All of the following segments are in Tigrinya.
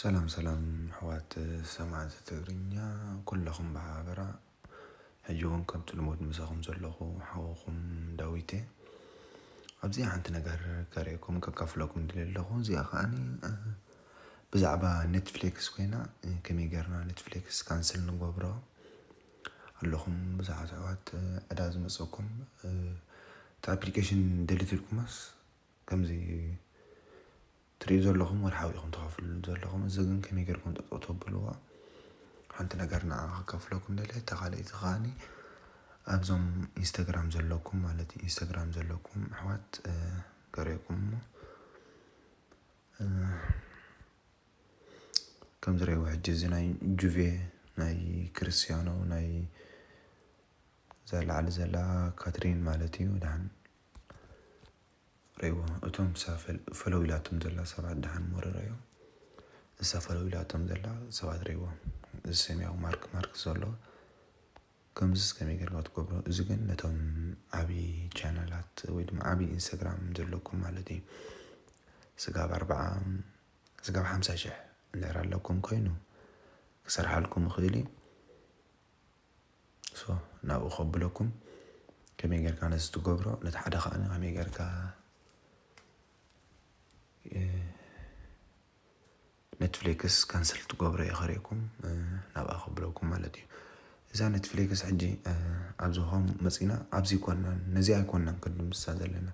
ሰላም ሰላም ኣሕዋት ሰማዕቲ ትግርኛ ኩለኹም ብሓበራ ሕጂ ውን ከምቲ ልሙድ ምሳኹም ዘለኹ ሓውኹም ዳዊት'የ። ኣብዚኣ ሓንቲ ነገር ከርእየኩም ከካፍለኩም ድልየ ኣለኹ እዚኣ ከኣኒ ብዛዕባ ኔትፍሌክስ ኮይና ከመይ ጌርና ኔትፍሌክስ ካንስል ንገብሮ ኣለኹም ብዙሓት ኣሕዋት ዕዳ ዝመጸኩም እቲ ኣፕሊኬሽን ደሊት ኢልኩሞስ ከምዚ ትሪኡ ዘለኹም ወርሓዊ ኢኹም ተኸፍሉኒ ዘለኹም እዚ ግን ከመይ ጌርኩም ጠጠው ተብልዎ ሓንቲ ነገር ንዓኻ ከከፍለኩም ደልየ እታ ካልኣይቲ ከዓኒ ኣብዞም ኢንስታግራም ዘለኩም ማለት እዩ ኢንስታግራም ዘለኩም ኣሕዋት ገሪኩም እሞ ከም ዝሪእዎ ሕጂ እዚ ናይ ጁቬ ናይ ክርስቲያኖ ናይ እዛ ላዕሊ ዘላ ካትሪን ማለት እዩ ድሓን ሬዎ እቶም ክሳብ ፈለው ኢላቶም ዘላ ሰባት ድሓን ሞረረዮ እሳ ፈለው ኢላቶም ዘላ ሰባት ሬዎ እዚ ሰማያዊ ማርክ ማርክ ዘሎ ከምዚ እስከመይ ጌርካ ትገብሮ እዚ ግን ነቶም ዓብዪ ቻናላት ወይ ድማ ዓብዪ ኢንስታግራም ዘለኩም ማለት እዩ ስጋብ ኣርብዓ ስጋብ ሓምሳ ሽሕ እንድሕር ኣለኩም ኮይኑ ክሰርሓልኩም ይኽእል እዩ ናብኡ ከብለኩም ከመይ ጌርካ ነዚ ትገብሮ ነቲ ሓደ ከዓ ከመይ ጌርካ ኔትፍሊክስ ካንስል ትገብሮ እየ ከርእኩም ናብኣ ከብለኩም ማለት እዩ እዛ ኔትፍሊክስ ሕጂ ኣብዚ ሆም መፂና ኣብዚ ኮናን ነዚ ኣይኮናን ክንድምስሳ ዘለና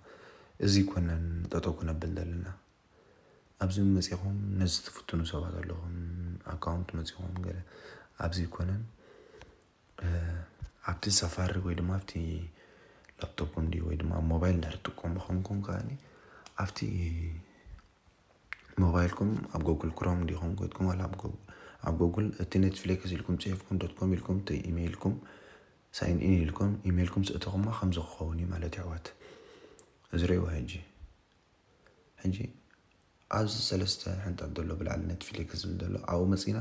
እዚ ኮናን ጠጠው ክነብል ዘለና ኣብዚ መጺኹም ነዚ ትፍትኑ ሰባት ኣለኹም ኣካውንት መጺኹም ገለ ኣብዚ ኣይኮነን ኣብቲ ሳፋሪ ወይ ድማ ኣብቲ ላፕቶፕ እንድዩ ወይ ድማ ሞባይል እንድሕር ትጥቀሙ ኾንኩም ከኣኒ ኣብቲ ሞባይልኩም ኣብ ጎግል ክሮም እንዲኹም ኮይትኩም ዋላ ኣብ ጎግል ኣብ ጎግል እቲ ኔትፍሊክስ ኢልኩም ጽሒፍኩም ዶት ኮም ኢልኩም እቲ ኢሜይልኩም ሳይን ኢን ኢልኩም ኢሜይልኩም ስእተኹማ ከምዚ ክኸውን እዩ ማለት እዩ ኣሕዋት እዚ ርእይዋ ሕጂ ሕጂ ኣዚ ሰለስተ ሕንጣጥ ዘሎ ብላዕሊ ነትፍሊክስ ዝብል ዘሎ ኣብኡ መጺና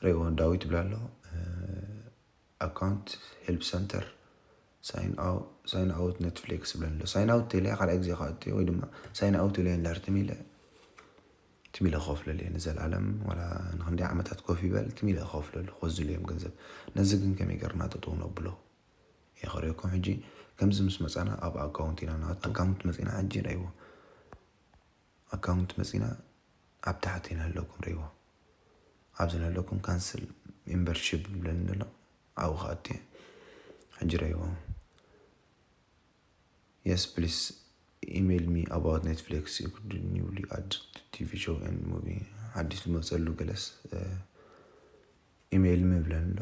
ሬዎ ዳዊ ትብላ ኣሎ ኣካውንት ሄልፕ ሰንተር ሳይን ኣውት ኔትፍሊክስ ይብለኒ ኣሎ ሳይን ኣውት ኢለ ካልኣይ ግዜ ክኣቱ ወይ ድማ ሳይን ኣውት ኢለ ንዳር ትም ኢለ ትም ኢለ ክኸፍለሉ እየ ንዘለኣለም ዋላ ንክንደይ ዓመታት ኮፍ ይበል ትም ኢለ ክኸፍለሉ ክወዝሉ እዮም ገንዘብ ነዚ ግን ከመይ ገርና ጠጠው ነብሎ የኽርየኩም ሕጂ ከምዚ ምስ መጻና ኣብ ኣካውንት ኢና ንኣቱ ኣካውንት መጺና ሕጂ ረእይዎ ኣካውንት መጺና ኣብ ታሕቲ ንህለኩም ረእይዎ ኣብዚ ንህለኩም ካንስል ሜምበርሺፕ ዝብለኒ ዘሎ ኣብኡ ክኣቱ እየ ሕጂ ረእይዎ የስ ፕሊስ ኢሜይል ሚ ኣባውት ኔትፍሊክስ ዩ ኩድ ኒውሊ ኣድ ቲቪ ሾው ኤንድ ሙቪ ሓዲስ ዝመጸሉ ገለስ ኢመይል ምብለን ኣሎ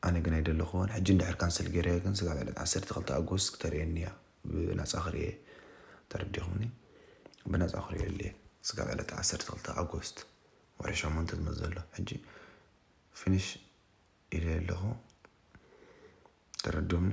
ኣነ ግን ኣይደለኩዎን ሕጂ እንድሕር ካንሰል ገይረዮ ግን ስጋብ ዕለት ዓሰርተ ክልተ ኣጎስት ክተርእየኒ እያ ብናጻ ክርእየ ተረዲኩምኒ ብናጻ ክርእየሉ እየ ስጋብ ዕለት ዓሰርተ ክልተ ኣጎስት ወርሒ ሸሞንተ ዝመጽእ ዘሎ ሕጂ ፊኒሽ ኢለ ኣለኩ ተረዱምኒ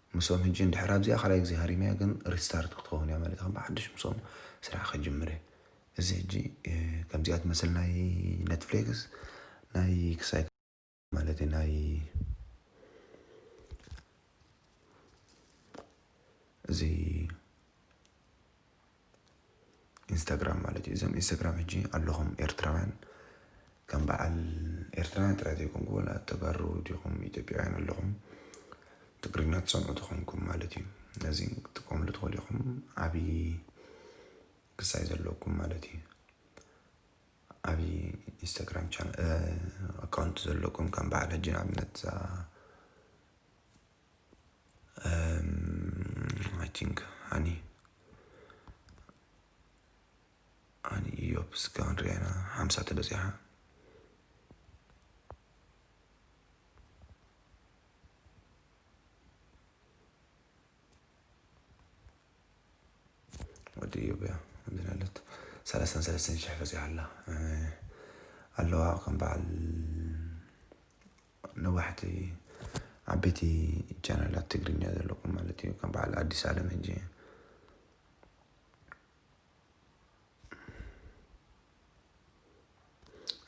ምስኦም ሕጂ እንድሕር ኣብዚኣ ካልኣይ ግዜ ሃሪመያ ግን ሪስታርት ክትኸውን እያ ማለት ከም ብሓድሽ ምስኦም ስራሕ ከጅምር እየ እዚ ሕጂ ከምዚኣ ትመስል ናይ ኔትፍሌክስ ናይ ክሳይ ማለት ናይ እዚ ኢንስታግራም ማለት እዩ እዞም ኢንስታግራም ሕጂ ኣለኹም ኤርትራውያን ከም በዓል ኤርትራውያን ጥራይ ዘይኮንኩ ወላ ተጋሩ ዲኹም ኢትዮጵያውያን ኣለኹም ትግርኛ ትሰምዑ ተኾንኩም ማለት እዩ ነዚ ክትጥቀምሉ ትኽእሉ ኢኹም ዓብዪ ክሳይ ዘለኩም ማለት እዩ ዓብዪ ኢንስታግራም ቻ ኣካውንት ዘለኩም ከም በዓል ሕጂ ንኣብነት እዛ ኣይ ቲንክ ሃኒ ሃኒ ኢዮብ ስጋ ክንሪኣ ኢና ሓምሳ ተበፂሓ ወዲ ኢዮብ እያ ከምዚ ናለት ሰላሳን ሰለስተን ሽሕ በፂሓ ኣላ ኣለዋ ከም በዓል ነዋሕቲ ዓበይቲ ቻናላት ትግርኛ ዘለኩም ማለት እዩ ከም በዓል ኣዲስ ኣለም እንጂ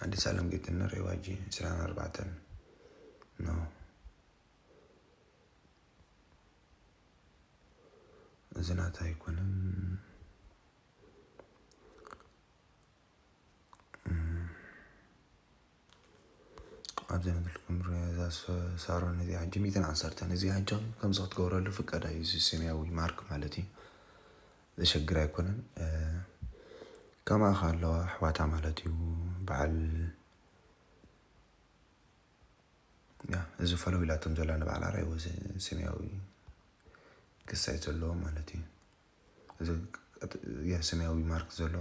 ኣዲስ ኣለም ጌትነት ሬዋጂ ዕስራን ኣርባዕተን ኖ እዚ ናታ ኣይኮነን ኣብ ዘንብልኩም እዛ ሳሮን እዚ ሕጂ ሚእትን ዓሰርተን እዚ ሕጂ ከምዚ ክትገብረሉ ፍቃድ እዩ እዚ ሰማያዊ ማርክ ማለት እዩ ዘሸግር ኣይኮነን ከማኻ ኣለዋ ኣሕዋታ ማለት እዩ በዓል እዚ ፈለው ኢላቶም ዘላ ንበዓል ኣርኣይዎ ሰማያዊ ክሳይ ዘለዎ ማለት እዩ እዚ ሰማያዊ ማርክ ዘሎ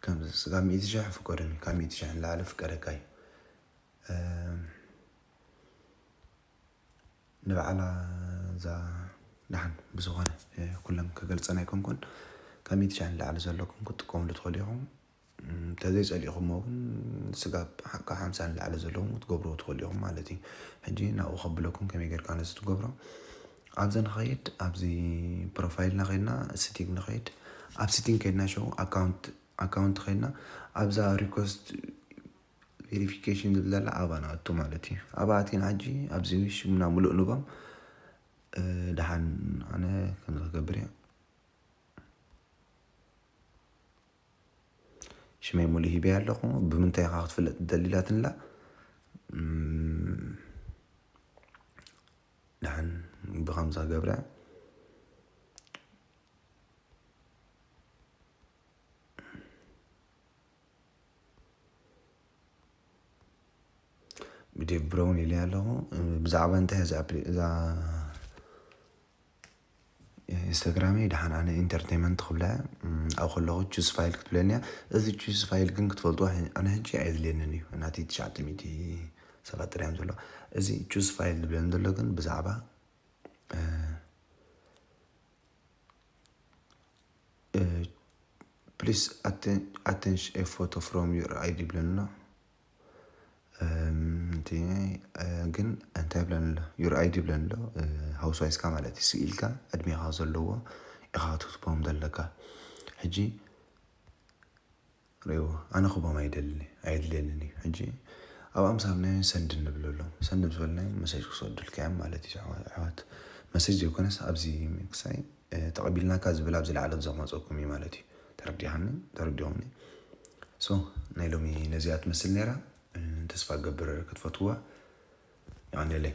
ከምዚ ስጋብ ሚእቲ ሽሕ ፍቀዱኒ ካብ ሚእቲ ሽሕ ንላዕሊ ፍቀደካ እዩ ንበዓላ እዛ ደሓን ብዝኾነ ኩሎም ክገልፀን ኣይኮንኩን ካብ ሚእቲ ሽሕ ንላዕሊ ዘለኩም ክትጥቀሙሉ ትኽእሉ ኢኹም ተዘይ ጸሊእኹሞ ግን ስጋብ ካብ ሓምሳ ንላዕሊ ዘለዉ ክትገብርዎ ትኽእሉ ኢኹም ማለት እዩ። ሕጂ ናብኡ ከብለኩም ከመይ ጌርካ ነዚ ትገብሮ ኣብዚ ንኸይድ ኣብዚ ፕሮፋይልና ከይድና ሲቲንግ ንኸይድ ኣብ ሲቲንግ ከይድና ሸው ኣካውንት ኣካውንት ከይድና ኣብዛ ሪኮስት ቬሪፊኬሽን ዝብል ዘላ ኣብኣ ንኣቱ ማለት እዩ ኣብኣ ኣቲና ሕጂ ኣብዚ ሽምና ምሉእ ንቦም ደሓን ኣነ ከምዚ ክገብር እየ ሽመይ ሙሉ ሂበያ ኣለኩ ብምንታይ ኢካ ክትፍለጥ ትደሊ ኢላትኒ ኣላ ድሓን ብከምዛ ገብረ ብዴቭ ብረውን ኢለያ ኣለኩ ብዛዕባ እንታይ እያ እዛ ኣፕሊ እዛ ኢንስታግራመይ ደሓን ኣነ ኢንተርተይመንት ክብላ ኣብ ከለኹ ቹዝ ፋይል ክትብለኒ እያ እዚ ቹዝ ፋይል ግን ክትፈልጥዎ ኣነ ሕጂ ኣየድልየንን እዩ ናተይ ትሽዓተ ሚእቲ ሰባት ጥራይ እዮም ዘለዉ እዚ ቹዝ ፋይል ዝብለኒ ዘሎ ግን ብዛዕባ ፕሊስ ኣተንሽ ኤ ፎቶ ፍሮም ዩር ኣይዲ ይብለኒ ኣሎ ግን እንታይ ይብለን ኣሎ ዩር ኣይዲ ይብለን ኣሎ ሃውስ ዋይስካ ማለት እዩ ስኢልካ ዕድሜኻ ዘለዎ ኢኻ ክትህቦም ዘለካ ሕጂ ሪኤዎ ኣነ ክህቦም ኣይደልን እየ ኣየድልየንን እዩ ሕጂ ኣብ ኣምሳል ናይ ሰንድ ንብለሎም ሰንድ ምስ በልናዮም መሴጅ ክሰዱልካ እዮም ማለት እዩ ኣሕዋት መሴጅ ዘይኮነስ ኣብዚ ምክሳይ ተቀቢልናካ ዝብል ኣብዚ ላዕሎት ዘቅመጸኩም እዩ ማለት እዩ ተረዲካኒ ተረዲኩምኒ so ናይ ሎሚ ነዚኣ ትመስል ነይራ ተስፋ እገብር ክትፈትዋ ይቀንየለይ